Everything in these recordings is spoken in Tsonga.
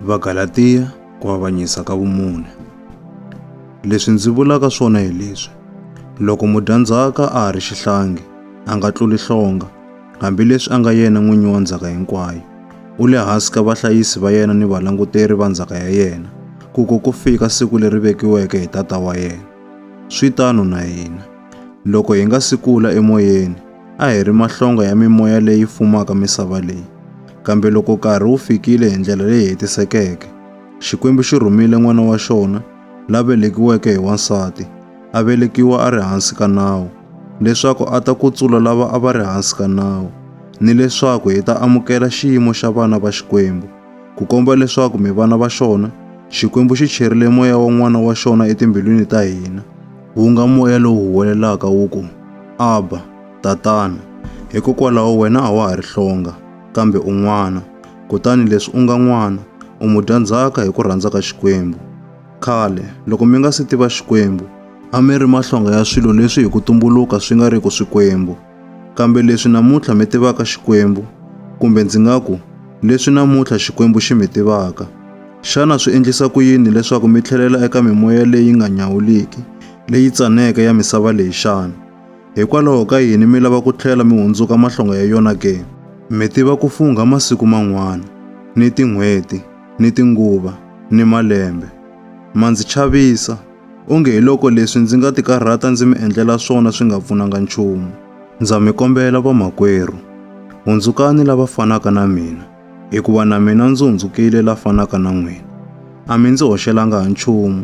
Vagalatiya ku avanyisa ka vumune. Leswi ndzi vulaka swona hi leswi, loko mudyandzhaka a ha ri xihlangi, a nga tluli hlonga, hambileswi a nga yena n'winyi wa ndzhaka hinkwayo. U le hansi ka vahlayisi va yena ni valanguteri va ndzhaka ya yena, ku ko ku fika siku leri vekiweke hi Tata wa yena. Swi tano na hina. Loko hi nga si kula emoyeni, A hi ri mahlonga ya mimoya leyi fumaka misava leyi. Kambe loko nkarhi wu fikile hi ndlela leyi hetisekeke, Xikwembu xi rhumile N'wana wa xona, la velekiweke hi wansati, a velekiwa a ri hansi ka nawu, leswaku a ta kutsula lava a va ri hansi ka nawu, ni leswaku hi ta amukela xiyimo xa vana va Xikwembu. Ku komba leswaku mi vana va xona, Xikwembu xi cherile moya wa N'wana wa xona etimbilwini ta hina. Wu nga moya lowu huwelelaka wu ku, Abba, Tatana, hikokwalaho wena a wa ha ri hlonga, kambe u n'wana, kutani leswi u nga n'wana, u mudyandzhaka hi ku rhandza ka Xikwembu. Khale, loko mi nga si tiva Xikwembu, a mi ri mahlonga ya swilo leswi hi ku tumbuluka swi nga riki swikwembu. Kambe leswi namuntlha mi tivaka Xikwembu, kumbe ndzi nga ku, leswi namuntlha Xikwembu xi mi tivaka, xana swi endlisa ku yini leswaku mi tlhelela eka mimoya leyi nga nyawuliki, leyi tsaneke ya misava leyi xana? Hikwalaho ka yini mi lava ku tlhela mi hundzuka mahlonga ya yona ke? Mi tiva ku fungha masiku man'wana, ni tin'hweti, ni tinguva, ni malembe. Ma ndzi chavisa, onge hi loko leswi ndzi nga tikarhata ndzi mi endlela swona swi nga pfunanga nchumu. Ndza mi kombela vamakwerhu, hundzukani lava fanaka na mina, hikuva na mina ndzi hundzukile la fanaka na n'wina. A mi ndzi hoxelanga ha nchumu,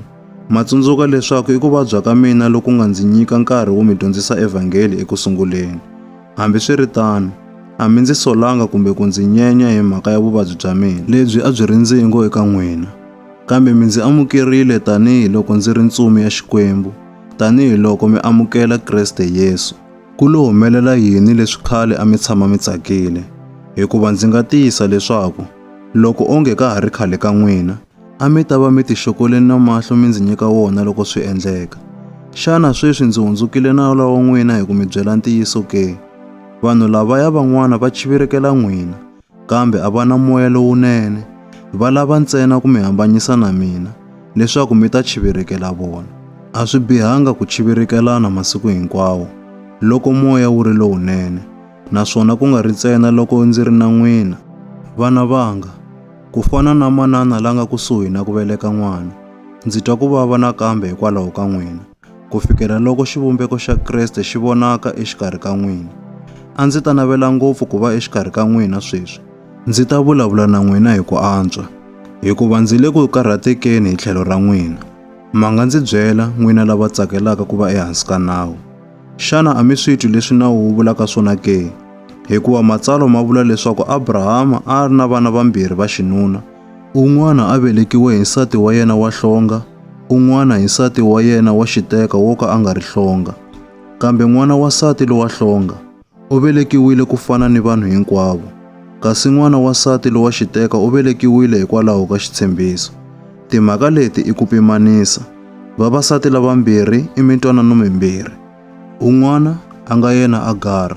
Ma tsundzuka leswaku i ku vabya ka mina loku nga ndzi nyika nkarhi wo mi dyondzisa evhangeli eku sunguleni. Hambiswiritano, a mi ndzi solanga kumbe ku ndzi nyenya hi mhaka ya vuvabyi bya mina lebyi a byi ri ndzingo eka n'wina, kambe mi ndzi amukerile tanihi loko ndzi ri ntsumi ya Xikwembu, tanihi loko mi amukela Kreste Yesu. Ku lo humelela yini leswi khale a mi tshama mi tsakile? Hikuva ndzi nga tiyisa leswaku, loko onge ka ha ri khale ka n'wina, A mi ta va mi tixokoleni na mahlo mi ndzi nyika wona loko swi endleka. Xana sweswi ndzi hundzukile na lowa wa n'wina hi ku mi byela ntiyiso ke? Vanhu lavaya van'wana va chivirekela n'wina, kambe a va na moya lowunene. Va lava ntsena ku mi hambanyisa na mina, leswaku mi ta chivirekela vona. A swi bihanga ku chivirikelana masiku hinkwawo, loko moya wu ri lowunene. naswona ku nga ri ntsena loko ndzi ri na n'wina, vana vanga, ku fana na manana la nga kusuhi na ku veleka n'wana, ndzi twa ku vava nakambe hikwalaho ka n'wina, ku fikela loko xivumbeko xa Kriste xi vonaka exikarhi ka n'wina. A ndzi ta navela ngopfu ku va exikarhi ka n'wina sweswi, ndzi ta vulavula na n'wina hi ku antswa, hikuva ndzi le ku karhatekeni hi tlhelo ra n'wina. Manga ndzi byela, n'wina lava tsakelaka ku va ehansi ka nawu. Xana a mi swi twi leswi nawu wu vulaka swona ke? Hikuva matsalwa ma vula leswaku Abrahama a a ri na vana vambirhi va xinuna, un'wana a velekiwe hi nsati wa yena wa hlonga, un'wana hi nsati wa yena wa xiteka wo ka a nga ri hlonga, kambe n'wana wa nsati lowa hlonga. U velekiwile ku fana ni vanhu hinkwavo, kasi n'wana wa nsati lowa xiteka u velekiwile hikwalaho ka xitshembiso. Timhaka leti i ku pimanisa, vavasati lavambirhi i mintwanano mimbirhi. Un'wana, a nga yena Agara,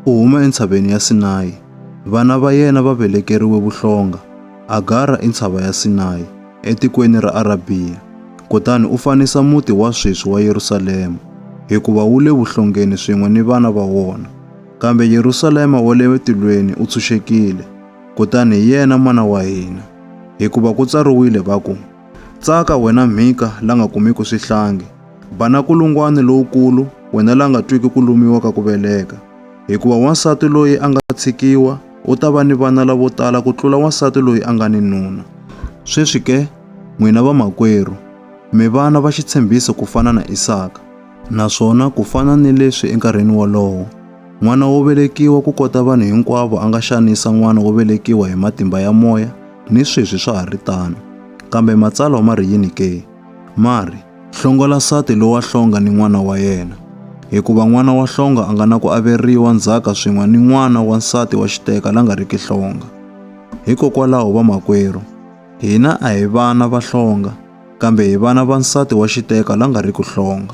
u huma eNtshaveni ya Sinayi. Vana va yena va velekeriwe vuhlonga. Agara i ntshava ya Sinayi. etikweni ra Arabiya, kutani u fanisa muti wa sweswi wa Yerusalema, hikuva wu le vuhlongeni swin'we ni vana va wona. Kambe Yerusalema wa le tilweni u tshunxekile, kutani hi yena mana wa hina. Hikuva ku tsariwile va ku, Tsaka wena Mhika la nga kumiki swihlangi, ba na kulungwani lowukulu wena la nga twiki ku lumiwa ka ku veleka, hikuva wansati loyi a nga tshikiwa u ta va ni vana lavo tala ku tlula wansati loyi a nga ni nuna. Sweswi ke, n'wina vamakwerhu, mi vana va xitshembiso ku fana na Isaka. Naswona ku fana ni leswi enkarhini wolowo, n'wana wo velekiwa ku kota vanhu hinkwavo a nga xanisa n'wana wo velekiwa hi matimba ya moya, ni sweswi swa ha ri tano. Kambe Matsalwa ma ri yini ke? Mari, hlongola nsati lowa hlonga ni n'wana wa yena, hikuva n'wana wa hlonga a nga na ku averiwa ndzhaka swin'we ni n'wana wa nsati wa xiteka la nga riki hlonga. Hikokwalaho vamakwerhu, hina a hi vana va hlonga, kambe hi vana va nsati wa xiteka la nga riki hlonga.